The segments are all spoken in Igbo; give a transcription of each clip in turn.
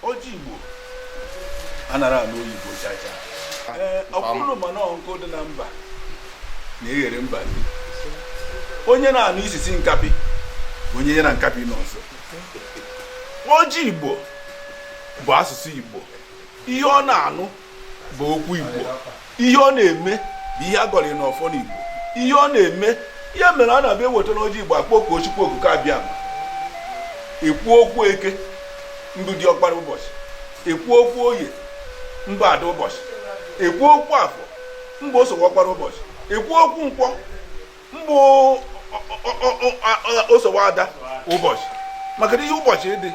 ọjị igbo anara anụ oyibo chacha ọkwa ụnụ ma na ọ nkụ dị na mba na-eghere mba nri onye na-anụ isisi nkapị bụ onye ya na nkapị nọ nso ọjị igbo bụ asụsụ igbo ihe ọ na-anụ bụ okwu igbo ihe ọ na-eme bụ ihe a gọrọ n'ọfọ n'igbo ihe ọ na-eme ihe mere a na-abụ eweta n'ọjị igbo akpọkuo chukwu okike abịama ekwu okwu eke mbụ dị ọkpara ụbọchị ekwu okwu oye mbụ ada ụbọchị ekwu okwu afọ mbụ osowe ọkpara ụbọchị ekwu okwu nkwọ mbụ osowe ada ụbọchị maka na ihe ụbọchị dị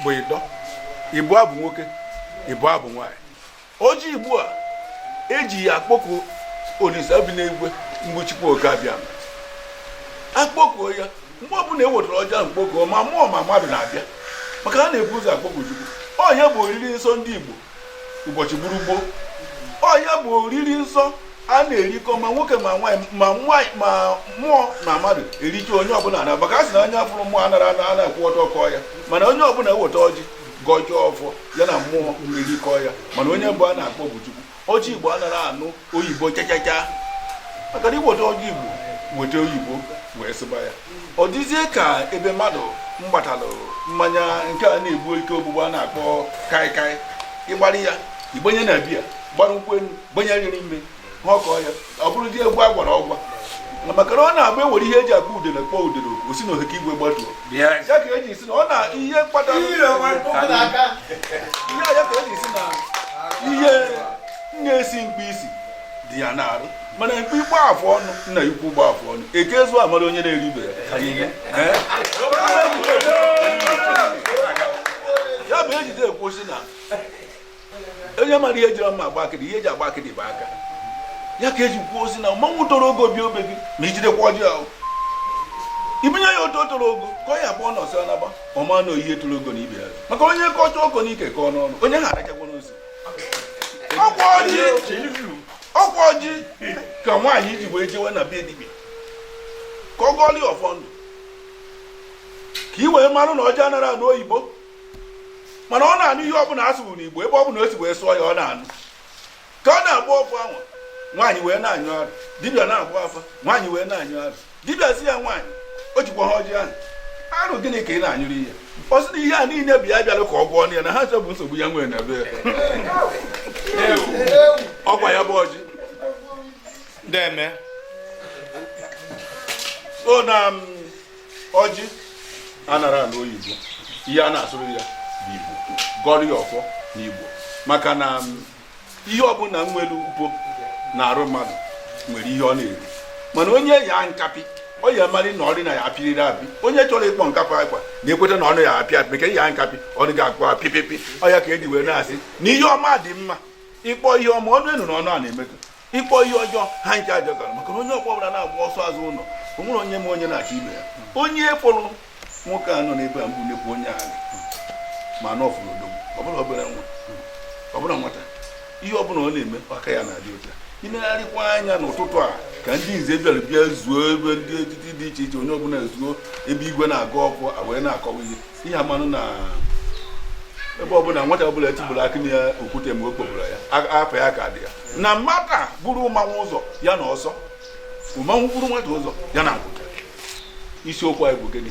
bụ ịnọ ịbụa bụ nwoke ịbụa bụ nwaanyị ọjị igbo a eji ya akpọku olise bi n'igwe mbụ chukwu oke abịama akpọkuo ya mgbe ọbụla ewetara ọjị a mkpọku ma mmụọ ma mmadụ na-abịa maka a na-ebu ụzọ akpọku chukwu ọ ya bụ oriri nsọ ndị igbo ụbọchị gburugbo ọ ya bụ oriri nsọ a na-erikọ ma nwoke ma nwaanyị ma mmụọ na mmadụ erike onye ọbụla na maka a sị na onye fụrụ mmụọ anara ana ana akwụ ọtọ kọọ ya mana onye ọbụla eweta ọjị gọchaa ọfọ ya na mmụọ erikọ ya mana onye mbụ a na-akpọ bụ chukwu ọjị igbo anara anụ oyibo chachacha maka na iweta ọjị igbo weta oyibo wee sụba ya ọ dịzie ka ebe mmadụ gbatalụ mmanya nke a na-egbu ike ogbugbu a na-akpọ kaikai ịgbara ya igbanye na biya gbara nkwụ elu gbanye ya n'ime ha ọkọọ ya ọ bụrụ dị egwu a gwara ọgwa maka na ọ na-abụ ewere ihe eji akpọ udele kpọọ udele o si na ohe ka igwe gbatuo ya ka eji sị na ọ na ihe kpatara ihe ya ka eji sị na ihe na-esi mkpi isi dị ya n'arụ mana mkpi gba afụ ọnụ nna ukwu gba afụ ọnụ eke ezu amara onye na-ere ibe ya ihe ya bụ ejide ekwu sị na onye mara ihe jiri mma agba akịdị ihe eji agba akịdị bụ aka ya ka eji kwuo sị na mmanwụ toro ogo bịa be gị ma ijidekwa ọjị ahụ ibunye ya otu toro ogo ka ọ ya abụọ na ọsọ naba ọ ma na ọ ihe toro ogo na ibe ya maka onye kọcha ọkọ n'ike kọọ n'ọnụ onye a arachakwa nsị ọkwa ọjị ka nwaanyị ji wee jewe na be dibịa ka ọ gọọlụ ya ọfọ ndụ ka i wee marụ na ọjị anara anụ oyibo mana ọ na-anụ ihe ọbụla a sụrụ n'igbo ebe ọbụla o si wee sụọ ya ọ na-anụ ka ọ na-agọ ọfọ anwa nwaanyị wee na-anyụ arụ dibịa na-agba afa nwaanyị wee na-anyụ arụ dibịa sị ya nwaanyị o jikwa ha ọjị ahụ arụ gịnị ka ị na-anyụrụ ihe ọ sị na ihe a niile bụ ya bịalụ ka ọ gwọọ ya na ha nso bụ nsogbu ya nwere na be ọkwa ya bụ ọjị deme so na um, ọjị anara anụ oyibo ihe a na-asụrụ ya bụ igbo gọrọ ya ọfọ na igbo maka na um, ihe ọbụla nwere ugbo na-arụ mmadụ nwere ihe ọ na-eri mana onye ya nkapị ọ ya amarị na ọrị na ya apịrịrị apị onye chọrọ ịkpọ nkapị akwa na-ekweta na ọnụ ya apịa apị maka ya nkapị ọnụ ga-akpọ apịpịpị ọ ya ka e ji wee na-asị na ihe ọma dị mma ịkpọ ihe ọma ọnụ enu na ọnụ a na-emekọ ịkpọ ihe ọjọọ ha ncha agbasara maka na onye ọkpọ ọbụla na-agba ọsọ azụ ụlọ o nwere onye ma onye na-achọ ibe ya onye fụrụ nwoke a nọ n'ebe a bụ nnekwu onye agha ma na ọ fụrụ odogwu ọbụla obere nwa ọbụla nwata ihe ọbụla ọ na-eme aka ya na-adị ọcha i negharịkwa anya n'ụtụtụ a ka ndị nze bịara bịa zuo ebe ndị etiti dị iche iche onye ọbụla zuo ebe igwe na-aga ọkụ wee na-akọwa ihe ihe amanụ na ebe ọbụla nwata ọbụla etigburu akị na ya okwute mgbe o kpọburu ya apa ya ka dị ya na nwata buru mmanwụ ụzọ ya na ọsọ mmanwụ buru nwata ụzọ ya na nkwụta isiokwu anyị bụ gịnị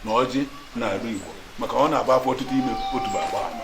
na ọjị na-arụ igbo maka ọ na-agba afọ ọtụtụ ime otu bụ agba ama